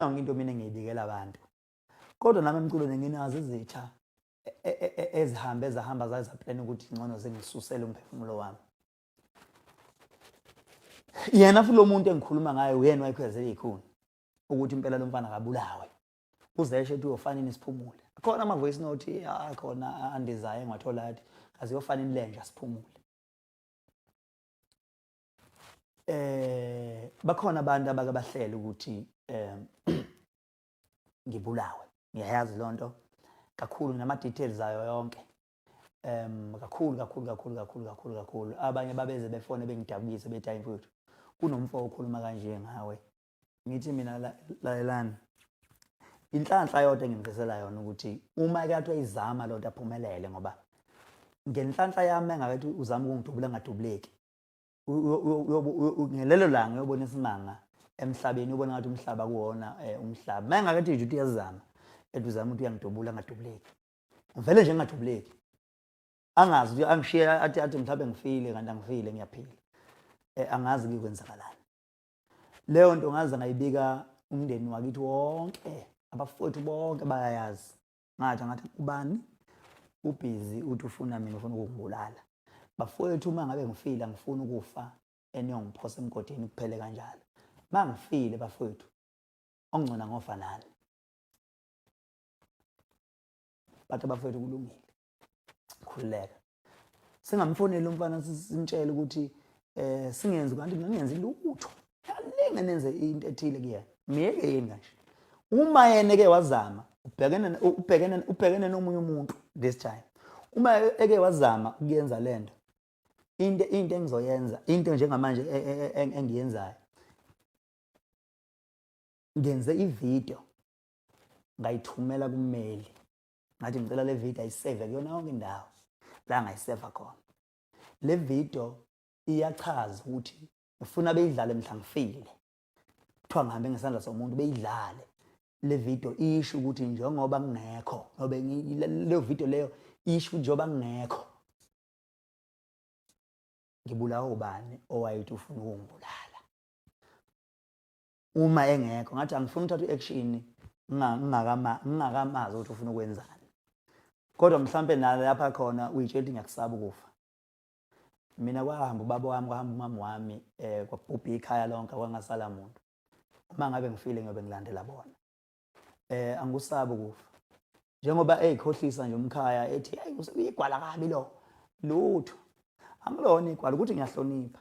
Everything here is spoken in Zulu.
Nangi into mina ngiyibikela abantu. Kodwa nami emculweni nginazo izitha e, e, e, ezihambe ezahamba zaza plan ukuthi ngcono zingisusele umphefumulo wami. Yena futhi lo muntu engikhuluma ngaye uyena wayikhwezela ikhuni ukuthi impela lo mfana akabulawe. Uzeshe ethi uyofanini siphumule. Khona ama voice note akhona andizayo engiwathola athi aziyofana inlenja siphumule. eh bakhona abantu abake bahlela ukuthi eh ngibulawe ngiyayazi lonto kakhulu nama details ayo yonke um kakhulu kakhulu kakhulu kakhulu kakhulu kakhulu abanye babeze befone bengidabukise bethi hayi mfowethu kunomfo okhuluma kanje ngawe ngithi mina lalelani inhlanhla yodwa engimdlisela yona ukuthi uma ekathiwa izama loo nto aphumelele ngoba ngenhlanhla yami engakethi uzama ukungidubula ngadubuleki ngelelo langa uyobona isimanga emhlabeni ubona ngathi umhlaba kuwona eh, umhlaba uma engakathi nje ukuthi uyazama ethi uzama ukuthi uyangidubula angadubuleki ngivele nje ngingadubuleki angazi ukuthi angishiye athi athi mhlawumbe ngifile kanti angifile ngiyaphila eh, angazi kuyokwenzakalani leyo nto ngaze ngayibika umndeni wakithi wonke abafowethu bonke bayayazi ngathi ngathi ubani ubhizi uthi ufuna mina ufuna ukungibulala bafowethu uma ngabe ngifile angifuni ukufa eniyongiphosa emgodini kuphele kanjalo uma ngifile bafowethu ongcona ngofa nani bathi abafowethu kulungile khululeka singamfonela umfana simtshele ukuthi eh singenzi kanti ngingenzi lutho yalinge nenze into ethile kuyena myeke yini kanje uma yena ke wazama ubhekene ubhekene ubhekene nomunye umuntu this time uma eke wazama ukuyenza lento into into engizoyenza into njengamanje e, e, e, engiyenzayo ngenze ivideo ngayithumela kummeli ngathi ngicela le video ayiseve kuyona yonke indawo la ngayiseva khona le video iyachaza ukuthi ngifuna beyidlale mhla ngifile kuthiwa ngihambe ngesandla somuntu beyidlale le video isho ukuthi njengoba ngingekho ngobe leyo video leyo isho ukuthi njengoba ngingekho ngibulawa ubani owayethi ufuna ukungibulala uma engekho ngathi angifuni uthatha u-action ngingakamazi ukuthi ufuna ukwenzani kodwa mhlawumpe nalo lapha khona uyitshela ukuthi ngiyakusaba ukufa mina kwahamba ubaba wami kwahamba umama wami um kwabhubha ikhaya lonke kwangasala muntu uma ngabe ngifile ngiyobe ngilandela bona um angikusabi ukufa njengoba eyikhohlisa nje umkhaya ethi eyi uyigwala kabi lo lutho angilona igwala ukuthi ngiyahlonipha